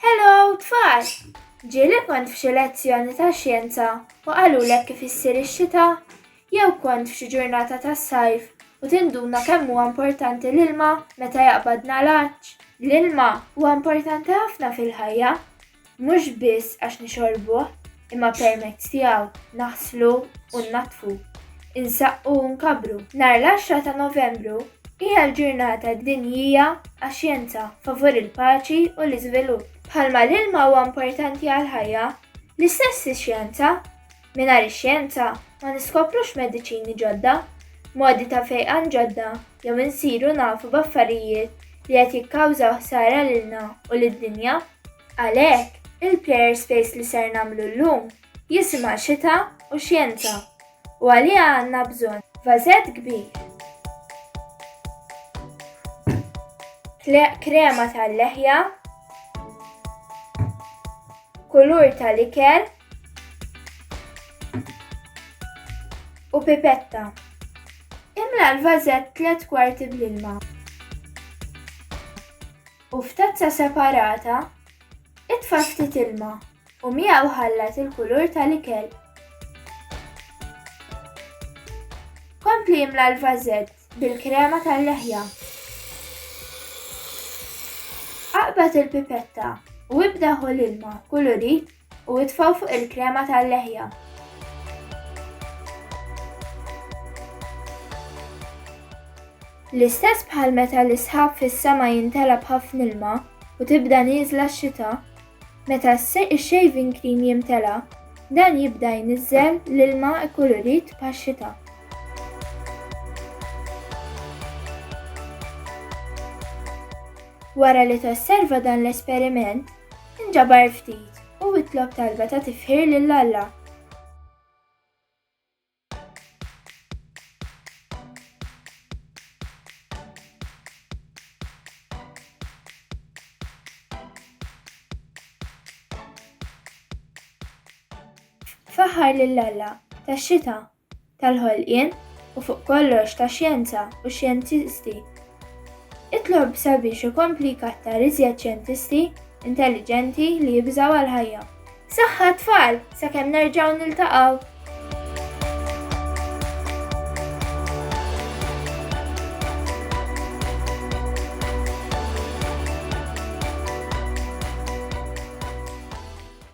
Hello, tfal! Ġieli kont f'xi lezzjoni ta' xjenza u qalulek kif issir ix-xita? Jew kont f'xi ġurnata tas-sajf u tinduna kemm huwa importanti l-ilma meta jaqbad nagħlaġġ? L-ilma huwa importanti ħafna fil-ħajja, mhux biss għax nixorbuh, imma permezz tiegħu naħslu u nnaddfu, insaqqu u nkabbru. Nhar l-10 ta' Novembru hija l-ġurnata dinjija għax-xjenza favur il-paċi u l-iżvilupp. Bħalma l-ilma huwa importanti għall-ħajja, l-istess ix-xjenza. Mingħajr ix-xjenza ma niskoprux mediċini ġodda, modi ta' fejqan ġodda jew insiru nafu b'affarijiet li qed jikkawżaw ħsara lilna u lid-dinja. Għalhekk, il-Player's Space li ser nagħmlu llum jisimha Xita u Xjenza u għaliha għandna bżonn vażett kbir, krema tal-leħja, kulur tal-ikel u pipetta. Imla l-vażett tliet kwarti bl-ilma. u f'tazza separata itfa' ftit ilma u miegħu ħallat il-kulur tal-ikel. Kompli imla l-vażett bil-krema tal-leħja. Aqbad il-pipetta u ibda ħu l-ilma kulurit u itfgħu fuq il-krema tal-leħja. L-istess bħal meta l-isħab fis-sema jintela b'ħafna ilma u tibda nieżla x-xita, meta x-shaving cream jimtela, dan jibda jniżżel l-ilma kkulurit bħax-xita. Wara li tosserva dan l-esperiment, Inġabar ftit u itlob talba ta' tifħir lil Alla. Faħħar lil Alla tax-xita tal-ħolqien u fuq kollox tax-xjenza u x-xjentisti. Itlob sabiex ikompli jkattar iżjed xjentisti intelliġenti li jibżgħu għall-ħajja. Saħħa tfal, sakemm nerġgħu niltaqgħu!